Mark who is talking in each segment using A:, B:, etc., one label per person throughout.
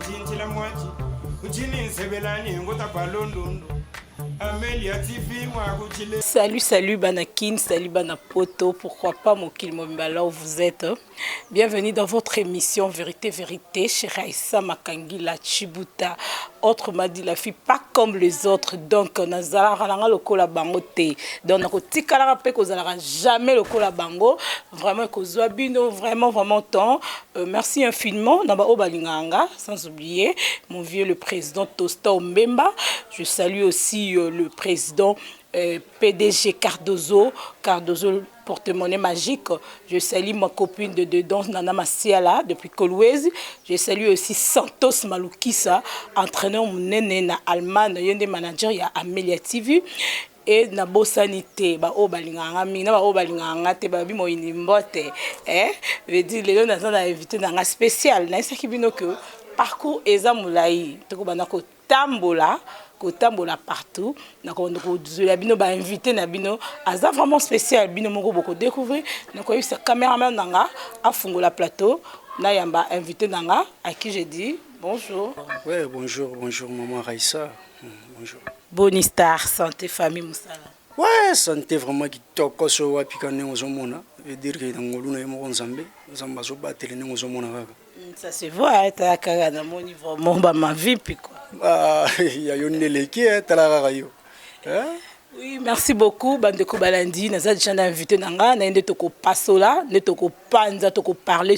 A: Tintila mwachi uchini nsebelani ngota kwa londundu Amelia TV mwa kuchile Salut, salut
B: Banakin, salut Banapoto, pourquoi pas Mokil Mobimba là où vous êtes. Bienvenue dans votre émission Vérité, Vérité chez Raissa Makangila Chibuta. Autre m'a dit la fille, pas comme les autres. Donc, nazalaka nanga lokola bango te. Donc, nakotikalaka mpe kozalaka jamais lokola bango. Vraiment ekozwa bino vraiment vraiment temps euh, merci infiniment na baoyo balingaka nga sans oublier mon vieux le président Tosta Ombemba je salue aussi euh, le président euh, PDG Cardozo Cardozo porte-monnaie magique. Je salue ma copine de dedans, Nana Masiala, depuis Kolwezi. Je salue aussi Santos Maloukissa, entraîneur Mounene na Allemagne, yende manager ya Amelia TV. et na bosani te ba oyo balingaka nga mingi na ba oyo balingaka nga te balobi moyini mbote eh veut dire lelo naza na invité na nga spécial nayebisaki bino que parcours eza molai tokobanda kotambola kotambola partout nakobanda kozwela bino ba invité na bino aza vraiment spécial bino moko bokodecouvrir nakoyebisa cameraman na nga afungola plateau nayamba invité na nga à qui je dis bonjour Ouais, bonjour,
C: bonjour, maman Raissa. Bonjour. Boni Star,
B: santé, famille, musala. Ouais, santé
C: vraiment kitoko so wapi ka ndenge ozomona veut dire que na ngolu na ye moko nzambe nzambe azobatele ndenge ozomona kaka mm, ça se voit
B: tala kaka namoni vraiment bamavipi kua ah, ya
C: yo nde eleki eh, tala kaka yo eh? Oui, merci
B: beaucoup bandeko balandi naza deja na invité na nga na ye nde tokopasola nde tokopanza tokoparle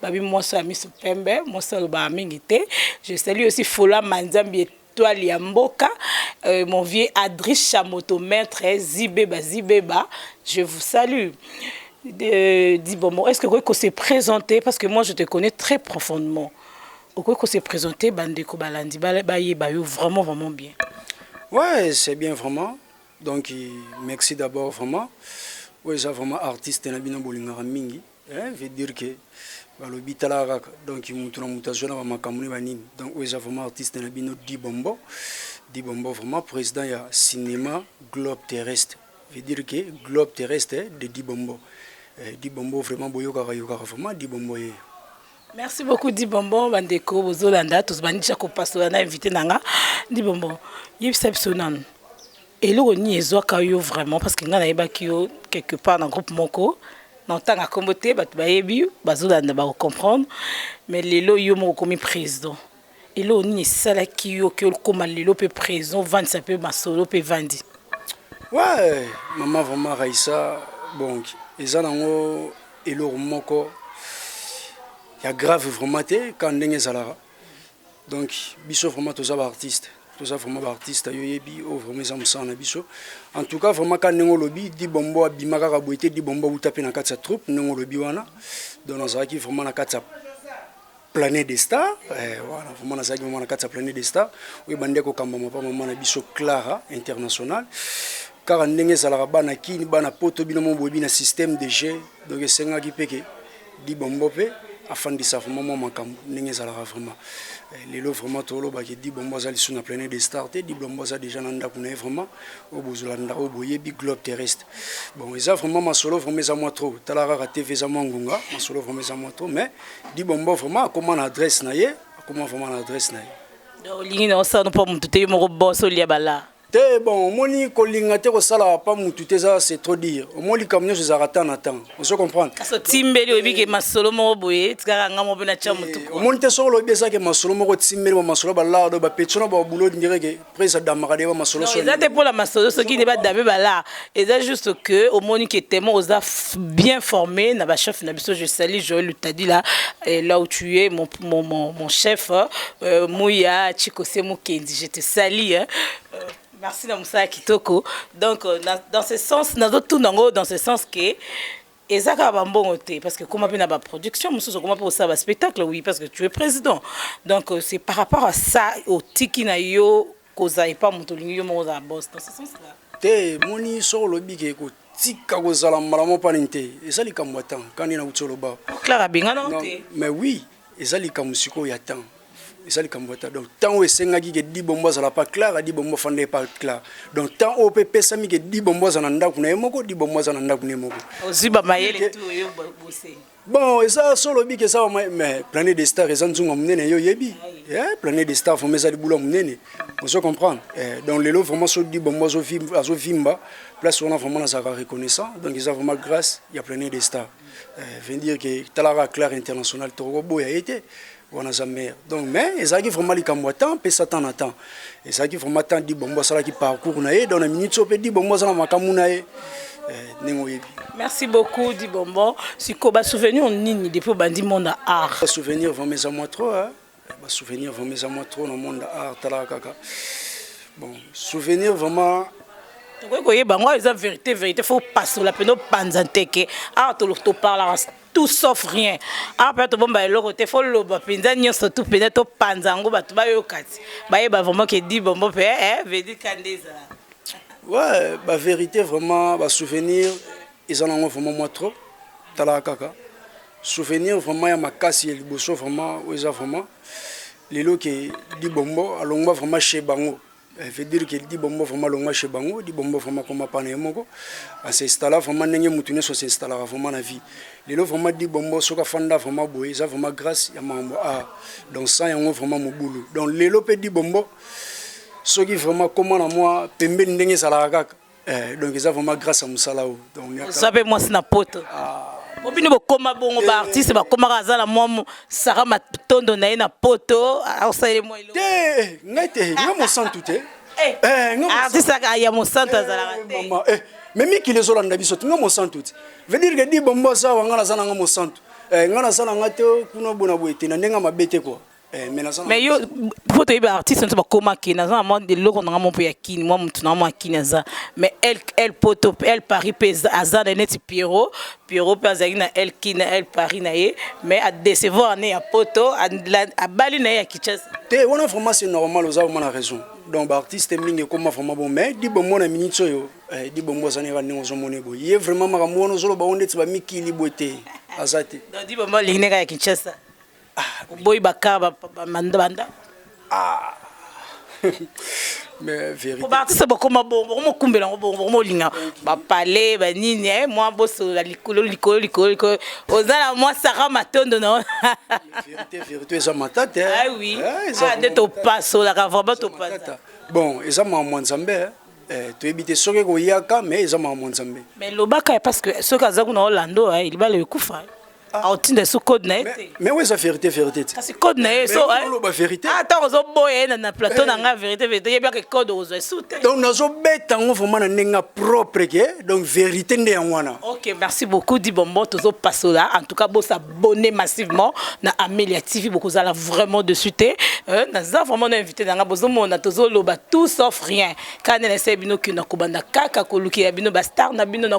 B: Babi moso ya miso pembe, moso alobaka mingi te. Je salue aussi Fola Manzambi étoile ya mboka, euh, mon vieux Adriche Chamoto maître eh, Zibeba Zibeba, je vous salue. De, dis bon, est-ce que Koko se présenter parce que moi je te connais très profondément. Koko se présenter bandeko balandi ba ba ye ba yo vraiment vraiment bien. Ouais,
C: c'est bien vraiment. Donc merci d'abord vraiment. Ouais, j'ai vraiment artiste na bino bolingaka mingi. Hein, veut dire que balobi tala kaka donc mutu na mutu azwa na ba makambo ne ba nini donc oyo eza vraiment artiste na bino Dibombo Dibombo vraiment président ya cinéma globe terrestre veut dire que globe terrestre de Dibombo eh, Dibombo vraiment boyokaka yokaka vraiment Dibombo ye Merci
B: beaucoup dit bonbon bandeko bozolanda tozobandi ja kopasola na invité na nga dit bonbon yebisa biso nanu eloko nini ezwaka yo vraiment parce que ngai nayebaki yo quelque part na groupe moko na otanga nkombo te bato bayebi bazolanda bakocomprendre mais lelo yo moko okomi président Eloko nini esalaki yo ke okoma lelo pe preso ovandisa pe masolo pe evandi? Ouais
C: maman vraiment Raissa bon eza nango eloko moko ya grave vraiment te kaka ndenge ezalaka donc biso vraiment toza ba artistes toza vraiment ba artistes yo oyebi oyo vraiment eza mosala na biso en tout cas vraiment kaka ndenge olobi Di Bombo abima kaka boye te Di Bombo awuta pe na kati ya troupe ndenge olobi wana donc nazalaki vraiment na kati ya Planet de Star eh, wana vraiment nazalaki mama na kati ya Planet de Star oyo ebandi kokambama mpa mama na biso Clara International kaka ndenge ezalaka bana kini bana poto bino mo boyebi na système de jeu donc esengaki mpe ke dibombo mpe afandisa vraiment mwa makambo ndenge ezalaka vraiment eh, lelo vraiment tolobaki dibombo aza lisusu na Planet de Star te dibombo aza déjà na ndako na ye vraiment oyo bozolanda oyo boyebi globe terrestre Bon, eza vraiment masolo vraiment eza mwa trop tala kaka tv eza mwa ngunga masolo vraiment eza mwa trop mais dibombo vraiment akoma na adresse na ye akoma vraiment na adresse na ye olingi na osala mpo
B: motu te yo moko bos olia bala te bon omoni
C: kolinga te kosala pa mutu te eza c'est trop dire omoni likambo nyonso ezalaka temps na temps ozo comprendre kasi otimbeli oyebi
B: ke masolo moko boye etikaka nga moko mpe natya motu omoni te soko olobi ezake
C: masolo moko otimbeli ba masolo balado bapetio na babulo direke prince adamaka nde bamasolo Non, eza te mpo na masolo soki
B: nde badame bala eza juste que omoni ke temo oza f- bien formé na bachef na biso je sali joel lutadila eh, là où tu es mon, mon, mon, mon chef euh, muya chikose mokendi je te sali hein. Euh, merci na mosala kitoko donc euh, na, dans ce sens nazotuna yango dans ce sens ke eza kaka ba mbongo te parce que koma pe na ba production mosusu okoma pe kosala ba spectacle oui parce que tu es président donc euh, c'est par rapport à ça otiki na yo kozala epa moto olingi yo moko ozala boss dans ce sens là te moni
C: soko olobi ke kotika kozala mbala moko panini te eza likambo ya ntango kani na uti oloba clara abengana
B: te mais oui
C: Eza likambo sikoyo ya temps eza likambo ya temps donc temps oyo esengaki ke di bombo azala pa clara di bombo afanda ye pa clara donc temps oyo mpe epesami ke di bombo aza na ndako na ye moko di bombo aza na ndako na ye moko ozwi bamayele tu
B: oyo bose bon eza
C: so olobi ke eza bama mais planète de star eza nzunga monene yo oyebi eh, planète de star vraimen eza libula monene ozo comprendre eh, donc lelo vraiment so di bombo azovimba place wana vraiment nazalaka reconnaissant donc eza vraiment grâce ya planète de star Eh, veut dire que talaka claire international tokoboya ye te wana aza maire donc mais ezalaki vraiment likambo ya temps mpesa temps na temps ezalaki vraiment temps dibombo asalaki parcours na ye donc na minute so mpe dibombo aza na makambo na ye eh, ndenge oyebi merci beaucoup
B: dibombo sikoyo basouvenir nini depuis obandi monde ya art souvenir vraiment eza mwa
C: trop ba souvenir vraiment eza mwa trop na monde art talaka kaka bon souvenir vraiment tokoki koyeba
B: yango eza verité verité fo opasola mpena opanza nteke awa toparlaka tout sauf rien awa mpena tobomba eloko te fo loba mpenza nyonso tu mpenza topanza yango bato bayoka ti bayeba vraiment ke di bombo mpe eh, eh, vedika nde ezala ouais
C: baverité vraiment basouvenir eza nango vraiment mwa trop talaka kaka Souvenir vraiment ya makasi ya liboso vraiment oyo eza vraiment lelo ke libombo alongwa vraiment chez bango eh, veut dire ke libombo vraiment alongwa chez bango libombo vraiment koma pana ye moko asinstalla vraiment ndenge motu nyonso asinstallaka vraiment na vie lelo vraiment libombo soki afanda vraiment boye eza vraiment grâce ya makambo a donc sans yango vraiment mobulu donc lelo mpe libombo soki vraiment koma na mwa pembeni ndenge ezalaka kaka Eh, donc eza vraiment grâce à musala oyo donc oza mpe mwasi na
B: poto po bino bokoma bongo baartiste bakomaka aza na mwa mo- sara matondo na ye na poto asaleli mwa eloko te ngai te
C: ngai mosantu te Eh, Eh, ngai mosantu- artiste
B: aka ya mosantu azalaka Eh, te mama, eh, mais mikili
C: ezolanda biso te ngai mosantu te veut dire que di bombo aza wa ngai naza na ngai mosantu Eh, ngai naza na ngai te kuna bona boye te na ndenge ya mabe te kua Eh, mais yo
B: faut toyebi artiste nso bakoma kini aza na mwa eloko nanga mo mpe ya kini mwa motu nanga mwa ya kini aza mais el poto el paris mpe aza na neti pierrot pierrot mpe azalaki na el kini na el paris na ye mais adecevoir ne ya poto abali na ye ya kichasa te wana vraiment c'est
C: normal oza vraiment na raison donc baartiste mingi ekoma vraiment bon mais libombo na minute oyo eh, libombo azani kaka ndenge ozomona eboye ye vraiment makambo wana ozoloba ngo ndeti bamikili boye te aza te libombo alingi
B: neka ya kinshasa Ah, oboyi ba car ba manda banda.
C: Ah. Mais vérité. Ko ba artiste bokoma bongo,
B: bokoma kumbela ngo bongo, bokoma linga. Ba palais, ba nini eh moi boso la likolo likolo likolo likolo. Ozala moi Sarah Matondo na. Vérité
C: vérité eza matata. Eh? Ah oui. Eh,
B: ah de to passo la ka vraiment to passo. Bon, eza maman
C: Nzambe. Eh? Eh, toyebi te soki ekoyaka mais eza makambo nzambe mais lobaka parce
B: que soki aza kuna olando eh, libala ekufa aotinda so code na ye te mais oyo eza vérité vérité
C: te kasi code na ye
B: soloba eh. vérité ata
C: ah, ozoboya ye
B: na plateau na eh. ngai vérité vérité yebi ake code okozwa esu te donc nazobeta
C: yango vraiment na ndenge ya propre ke donc vérité nde yango wana ok merci beaucoup
B: di bombo tozopasola en tout cas bosabonne massivement na amelia tv bokozala vraiment dessus te euh, naza vraiment na invité na ngai bozomona tozoloba tout sauf rien kane na esai bino kino kobanda kaka kolukela bino bastar na bino na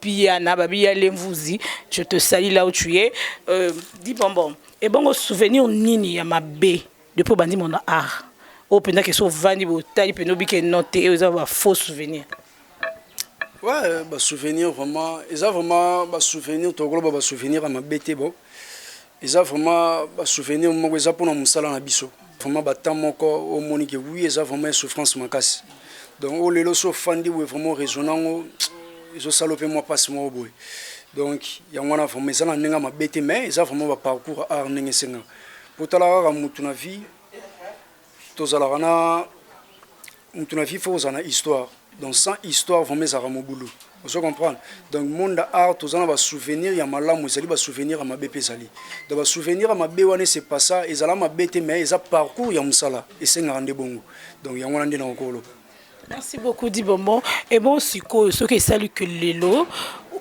B: Piana babi ya lemvuzi je te salis là où tu es euh, dit bonbon et bongo souvenir nini ya mabe depuis obandi mon art oyo mpenza kesi ovandi botali mpenza obike no te eyo eza ba faux souvenir ouais
C: ba souvenir vraiment eza vraiment ba souvenir tokoloba ba souvenir ya mabe te bon Eza vraiment ba souvenir moko eza pona musala na biso vraiment ba temps moko omoni ke oui eza vraiment ya souffrance makasi donc o lelo so fandi boye vraiment raison nango ezo salo pe mwa pasi moko boye donc yango wana vraiment eza na ndenge mabe te mais eza vraiment ba parcours art ndenge esenga potala kaka mutu na vie Tozalaka na mutu na vie faut ozala na histoire donc sans histoire vraiment ezalaka mobulu ozo comprendre donc monde ya art toza na basouvenir ya malamu ezali basouvenir ya mabe mpe ezali donc basouvenir ya mabe wana ese passa ezala mabe te mais eza parcours ya mosala esengaka nde bongo donc yango wana nde na kokoloba merci beaucoup
B: di bonbon e bon sikoyo soki esali ke lelo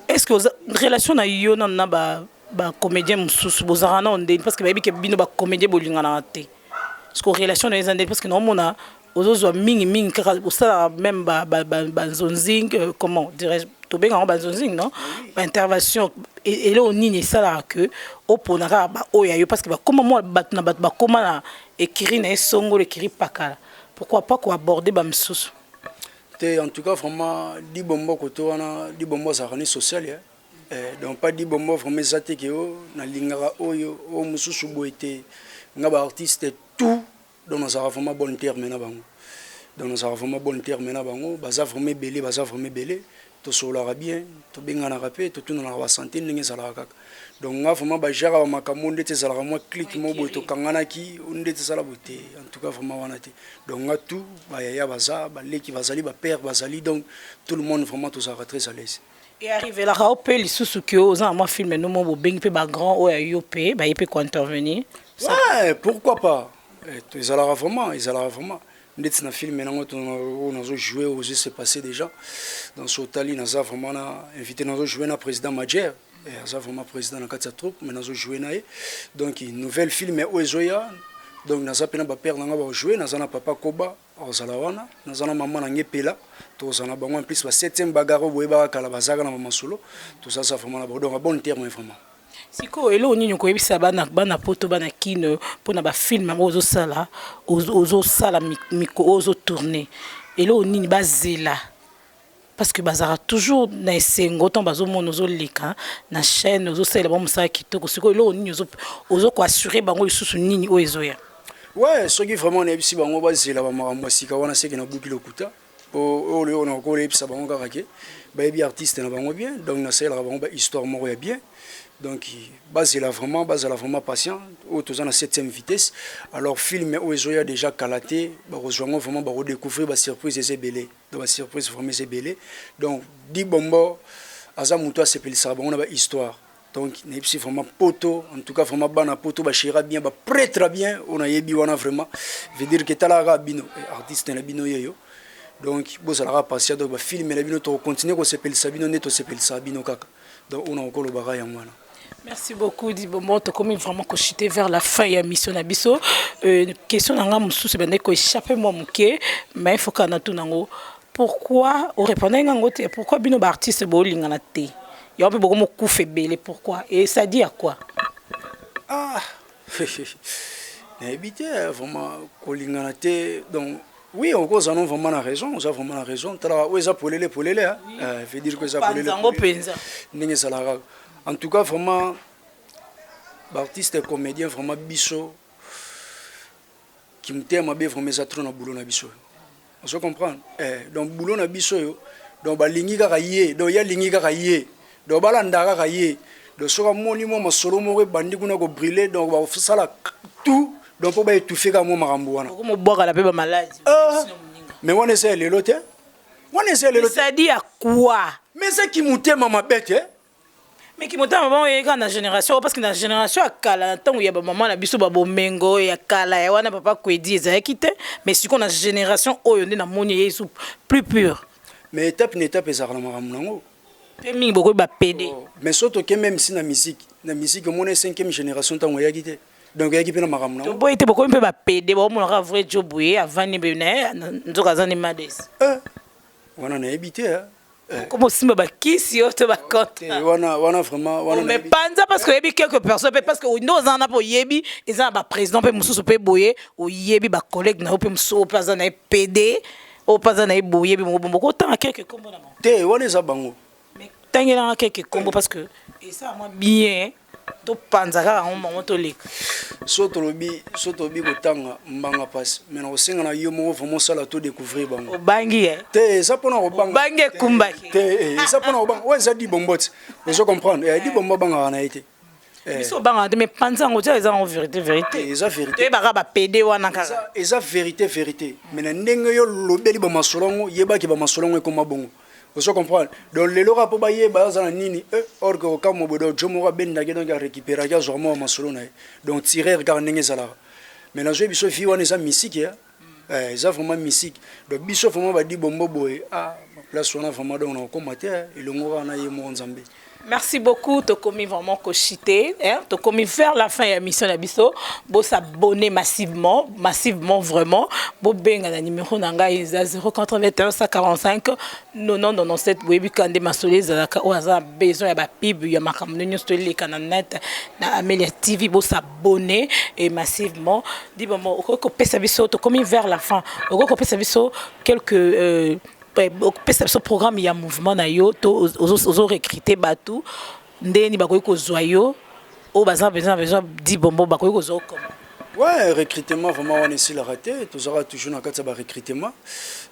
B: est ce que oza relation na yo nano na ba bacomédien mosusu bozalaka nao ndeni parce que bayebi ke bino bacomédien bolinganaka te Parce que relation na eza parce que na mona ozozwa mingi mingi kaka osala même ba ba ba, ba zonzing euh, comment dirais-je tobenga ngo ba zonzing non ba intervention et là on nini sala que au pona kaka ba oya yo parce que ba comment moi ba na ba comment na écrit na songo le kiri pakala pourquoi pas ko aborder ba misusu te en
C: tout cas vraiment libombo koto wana libombo azalaka ni social eh? Eh, donc pas dit bombo vraiment eza te ke o oh, nalingaka oyo o oh, mosusu boye te nga ba artiste tout donc nazalaka vraiment bonne terme na bango donc nazalaka vraiment bonne terme na bango baza vraiment ebele baza vraiment ebele tosololaka bien tobenganaka mpe totunanaka basante ndenge ezalaka kaka donc nga vraiment bajaka bamakambo ndeti ezalaka mwa clike mo boye tokanganaki ndeti ezala boye te en tout cas vraiment wana te donc nga tout bayaya baza baleki bazali bapère bazali donc tout le monde vraiment tozalaka très à l'aise Et arrive la rao
B: pe lisusu que oza na mwa film no mo bobengi pe ba grand oyo ayo pe ba ye pe ko intervenir. Ouais, pourquoi
C: pas? Eh, ezalaka vraiment, ezalaka vraiment. ndeti na film nango oyo nazo joue oyo se passé déjà dans so otali naza vraiment na invité nazo joue na président majere eh, aza vraiment président na kati ya troupe mais nazo joue na ye donc nouvelle film oyo ezoya donc naza mpe na bapere na ngai bajoue naza na papa koba Akozala wana naza na mama na nge pela tokozala na bango en plus ba septième bagarre oyo boyebaka kala bazalaka na bamasolo tozaza vraiment na bango donc bon terme vraiment sikoyo eloko
B: nini okoyebisa bana bana poto bana kino mpona bafilme yango ozosala ozosala miko oyo ozotourne eloko nini bazela parce que bazaka toujours na esengo tant bazo mona ozo leka na chaîne ozo salela ba musala kitoko siko eloko nini ozo ozo ko assurer bango lisusu nini oyo ezoya ouais soki
C: vraiment na ebisi bango ba zela ba makambo ya sika wana seke na buki lokuta oyo oyo na ko lebisa bango kaka ke ba yebi artiste na bango bien donc na salela bango ba histoire moko ya bien donc ba zela vraiment ba zala vraiment patient oyo toza na 7e vitesse alors film oyo ezoya déjà kala te ba ko zwa ngo vraiment ba ko découvrir ba surprise eza ebele na ba surprise vraiment eza ebele donc di bombo aza moto asepelisaka bango na ba histoire donc nayebisi vraiment poto en tout cas vraiment bana poto bashera bien bapretre bien oyo nayebi wana vraiment veut dire que etalaka kaka bino eh, artiste na bino yeyo donc bozalaka patient donc bafilme na bino tokocontinue kosepelisa bino nde tosepelisaka bino kaka Donc una oko loba ka yango wana. Merci beaucoup
B: dit bonbon tokomi vraiment ko chuter vers la fin ya mission na biso euh, question na nga mususu ebandaki ko échapper moi moke mais il faut ka na tuna ngo pourquoi o répondre nga ngo te pourquoi bino ba artistes bo lingana te yango mpe bokomi okufa ebele pourquoi et ça dit à quoi ah
C: nayebi te vraiment kolingana te donc Oui oko oza non vraiment na raison oza vraiment na raison tala oyo eza polele polele hein oui. euh, veut dire que eza polele yango penza
B: ndenge ezalaka
C: en tout cas vraiment ba artistes comédiens vraiment biso kimutema mabe vraiment eza trop na boulot na biso ozo comprendre eh donc boulot na biso yo donc balingi kaka ye donc ya lingi kaka ye Donc ba landa kaka ye donc soki amoni mwa masolo moko ebandi kuna ko brule donc ba sala tout donc po ba etouffer kaka mwa makambo wana. Bako mo bwakala pe ba malade.
B: Ah mais
C: wana eza ya lelo te wana eza ya lelo te. Ça
B: dit
C: à quoi? Mais eza ki motema mabe te. Mais
B: ki motema mabe oye kaka na generation parce que na generation ya kala na tango ya ba maman na biso ba bomengo ya kala ya wana papa Kwedi ezalaki te mais siko na generation oyo nde na moni ye plus pure. Mais etape na
C: etape ezalaka na makambo na yango. Pe mingi bokomi
B: ba pede. Oh, mais so toke meme
C: si na musique, na musique omona 5e generation tango ayaki te. Donc ayaki pe na makambo na. Toboyi te bokomi pe ba
B: pede, ba omona ka vrai job ye avandi be na ye nzoka azani mades. Eh, wana
C: nayebi te hein. Eh. Comme osimba
B: ba kisi yo to ba compte. Eh, wana wana vraiment
C: wana. Mais panza parce que yebi
B: quelques personnes pe parce que ndo oza na po yebi eza na ba président pe mususu pe boye oyebi ba collègues na yo pe mususu pe aza na ye pede. oyo mpe aza na ye boyebi moko bombo kotanga keke nkombo na bango te wana eza bango
C: tangelanga
B: keke nkombo parce que esala mwa bien topanza kaka yango bango toleka so tolobi
C: so tolobi kotanga mbanga mpasi mai nakosenga na yo moko vraimen osala to découvrir bango obangi ye te
B: eza mpona
C: kobangabangi ekumbaki te
B: eza mpona
C: kobanga oyo eza di bomboti ozo comprendre eh, di bombo abangaka na ye te Eh. biso obangaka te
B: mais panza yango tia eza yango vérité vérité Eh, eza vérité. toyebaka
C: bapede wana
B: kaka eza, eza vérité vérité
C: mais na ndenge yo lobeli bamasolo yango yebaki bamasolo yango ekoma bongo ozo comprendre donc lelo kaka mpo bayeba aza na nini eh, or que okamwa bodo jo moko abendaki donc arécupéraki azwaka mwa bamasolo na ye donc tireur kaka ndenge ezalaka mais nazwi biso vi wana eza misiki ya Eh, eza vraiment mystique. Donc biso vraiment ba dibombo boye, ah ba place wana vraiment donc na kokoma te, eh, elongo kaka na ye moko Nzambe. Merci beaucoup,
B: tokomi vraiment koshite, hein, tokomi vers la fin ya mission na biso. Bo s'abonner massivement, massivement vraiment. Bo benga na numéro na ngai eza 081 145 90 97 boyebi kande masolo ezalaka oyo aza na besoin ya ba pub ya makambo nyonso toleka na net na Amelia TV bo s'abonner. abonner et massivement dit bon bon okoki kopesa biso tokomi vers la fin okoki kopesa biso quelques euh, opesa biso programme ya mouvement na yo to ozo recruter bato ndenge nini bakoki kozwa yo oyo baza besoin besoin di bombo bakoki kozwa okoma ouais recrutement
C: vraiment wana esilaka te tozalaka toujours na kati ya barecrutement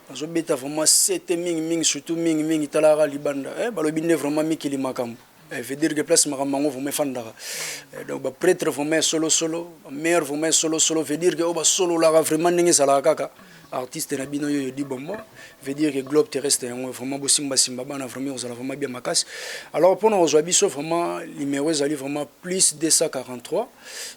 C: nazobeta vraiment sete mingi mingi surtout mingi mingi talaka libanda eh, balobi nde vraiment mikili makambo Eh, veut dire que place makambo mango vraiment efandaka eh, donc bapretre vraiment ya solosolo bamare vraiment ya solosolo veut dire que oyo basololaka vraiment ndenge ezalaka kaka artiste na bino yoyo di bombo veut dire que globe terrestre yango vraiment bosimbasimba bana vraiment ekozala vraiment bien makasi alors mpona kozwa biso vraiment numéro ezali vraiment plus 243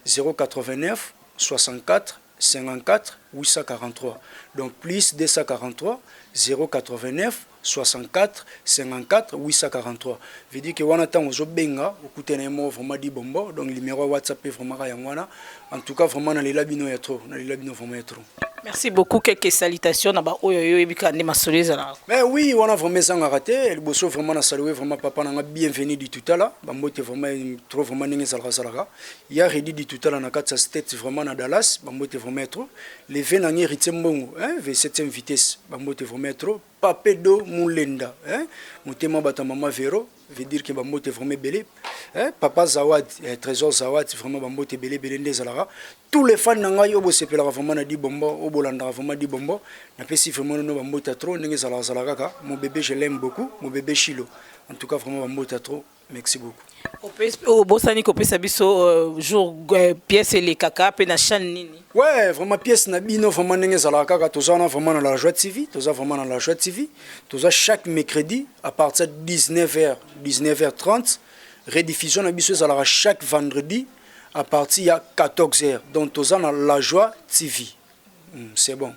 C: 089 64 54843 donc plus 283084545843 veut dire que wana tango ozo benga okute na ye moko vraiment dit bombo donc numero ya whatsapp pe vraiment ka yango wana en tout cas vraiment na lela bino ya trop na lela bino vraiment ya trop Merci beaucoup quelques
B: salutations na ba oyo yo ebika nde masolo ezala. Mais oui wana vraiment
C: ezanga raté liboso vraiment na saluer vraiment papa na nga bienvenue du tout à la ba mbote vraiment trop vraiment ndenge ezalaka zalaka Ya Reddy Ditutala na kati ya States vraiment na Dallas ba mbote vraiment ya trop. Le vieux na ngai Heritier Mbongo hein ve 7e vitesse ba mbote vraiment ya trop. Pape Do Mulenda hein motema bata mama Vero veut dire que ba mbote vraiment ebele hein papa Zawad eh, Trésor Zawad vraiment ba mbote ebele ebele nde ezalaka. Tous les fans na ngai oyo bosepelaka vraiment na Di Bombo oyo bolandaka vraiment Di Bombo napesi vraiment no ba mbote ya trop ndenge ezalaka zalaka kaka mon bébé je l'aime beaucoup mon bébé Shilo en tout cas vraiment ba mbote ya trop. Merci beaucoup. obosani
B: kopesa biso euh, jour euh, pièce elekaka mpe na chaîne nini ouais vraiment pièce
C: na bino vraiment ndenge ezalaka kaka toza wana vraiment na la joie tv toza vraiment na la joie tv toza chaque mercredi à partir de 19 h 19 h 30 rediffusion na biso ezalaka chaque vendredi à partir ya 14 h donc toza na la joie tv c'est bon.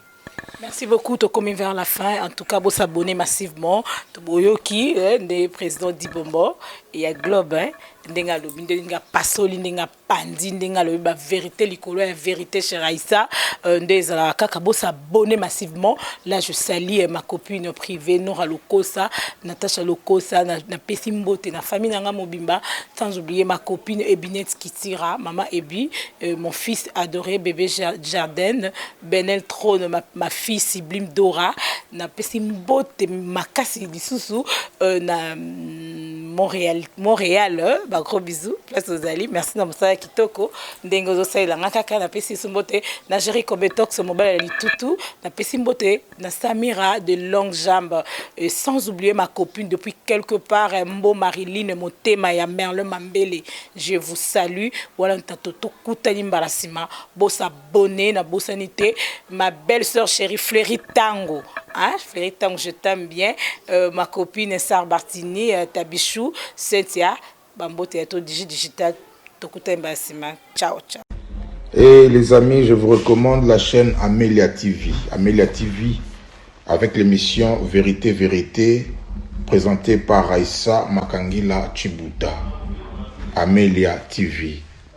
C: Merci beaucoup
B: tokomi vers la fin en tout cas bo s'abonner massivement toboyoki eh, nde président Dibombo et ya Globe hein ndenge alobi ndenge apasoli ndenge apanzi ndenge alobi baverité likolo ya verité cher aïssa euh, nde ezalaka kaka bosabone massivement là je salie euh, ma copine privée nora lokosa natacha lokosa napesi na mbote na famille na ngai mobimba sans oublier ma copine ebinetski Tira maman Ebi euh, mon fils adore bebe Jardin Benel Trone ma, ma fille sublime Dora na pesi mbote makasi lisusu euh, na mm, Montréal Montréal euh, ba gros bisous place ozali merci na mosala kitoko ndenge ozosalela nga kaka na pesi mbote na Jerry Kobetox mobala ya litutu na pesi mbote na Samira de longue jambe euh, sans oublier ma copine depuis quelque part euh, Mbo Mariline motema ya Merlin Mambele je vous salue wana ntato tokutani mbala nsima bosa bonne na bosani te ma belle sœur chérie Fleury Tango hein Fleury Tango je t'aime bien euh, ma copine Sarbartini euh, Tabichou Cynthia Ba mbote ya to digi digital tokutani ba sima ciao ciao. Hey les
D: amis je vous recommande la chaine Amelia TV Amelia TV avec l'emission verite verite presentee par Raissa Makangila Tshibuta Amelia TV.